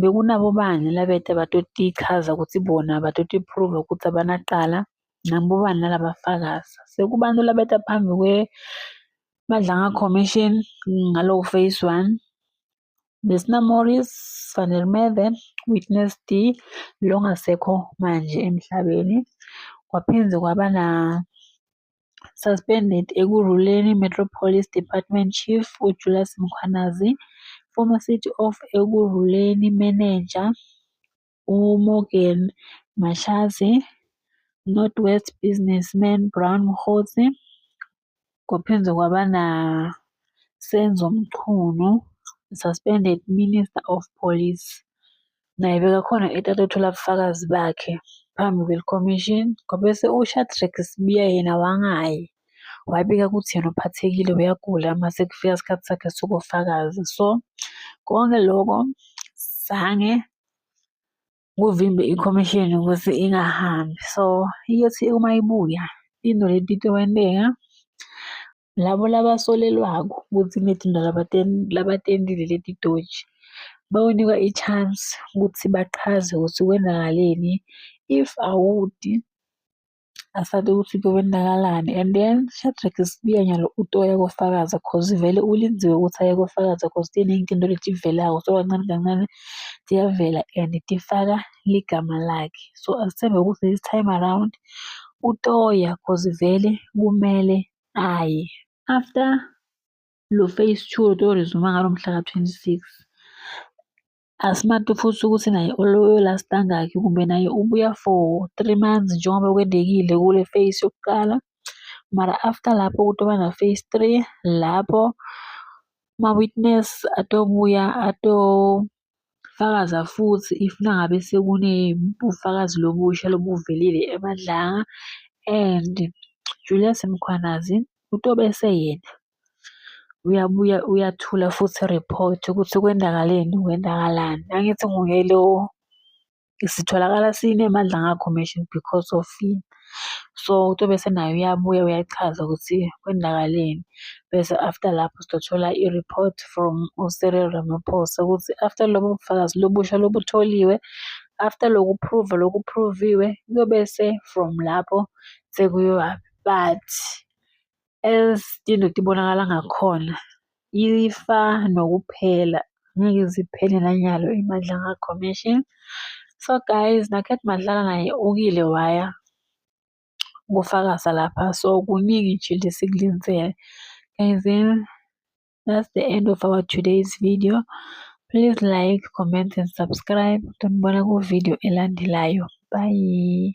bekunabobani labete abatotichaza kutsi bona batotiphuruva kutsi abanacala, nabobani nalabafakaza. Sekubantfu labeta phambi kwe Madlanga Commission ngaloku Phase 1, Besina Morris, Van der Merwe, Witness D longasekho manje emhlabeni, kwaphindze kwaba na suspended Ekurhuleni Metropolis Department Chief uJulius Mkhwanazi, former City of Ekurhuleni Manager uMorgan Mashazi, North West Businessman Brown Mkhosi, kwaphinde kwaba na Senzo Mchunu, suspended Minister of Police. Naye bekakhona etata othola ubufakazi bakhe phambi kwelikhomishini ngoba uShadrack Sibiya yena wangayi wabika ukuthi yena uphathekile uyagula mase kufika isikhathi sakhe sokufakaza so konke loko zange kuvimbe ikhomishini ukuthi ingahambi so iyothi uma ibuya into lentito wenteka Labo labasolelwako ukuthi imitjinto labatendile leti dotjhi bayonikwa i-chance ukuthi bachaze ukuthi kwenzakaleni if awudi asade ukuthi kwenzakalani and then Shadrack sibuya nyalo utoya kofakaza cause vele ulindziwe ukuthi aye kofakaza cause tiningi tinto letivelako so kancane kancane tiyavela and tifaka ligama lakhe so asithembe ukuthi this time around utoya cause vele kumele Hhayi, after lo phase two otorezuma ngalo mhla ka-twenty-six, asimato futhi ukuthi naye ololast angakhi kumbe naye ubuya for three months njengoba kwendekile kule phase yokuqala. Mara after lapho kutoba na-phase three, lapho ama-witness atobuya ato. Fakaza futhi if nangabe sekunebufakazi lobusha lobuvelile eMadlanga and Julius Mkhwanazi utobese yena uyabuya uyathula futhi report ukuthi kwendakaleni kwendakalani. Angithi nguye lo. sitholakala sinemandla ngakho mention because of yini. So utobe senaye uyabuya uyachaza ukuthi kwenzakaleni. Bese after lapho sitothola i-report from uCyril Ramaphosa ukuthi after lobo bufakazi lobusha lobutholiwe, after loku prove loku phruviwe kuyobese from lapho sekuyiwa but. ezitinto tibonakala ngakhona ifa nokuphela ngeke ziphele nanyalo iMadlanga Commission so guys nakhet Madlala naye ukile waya kufakaza lapha so kuningi nje lesikulenzele guys then that's the end of our today's video please like comment and subscribe tonibona ku video elandelayo bye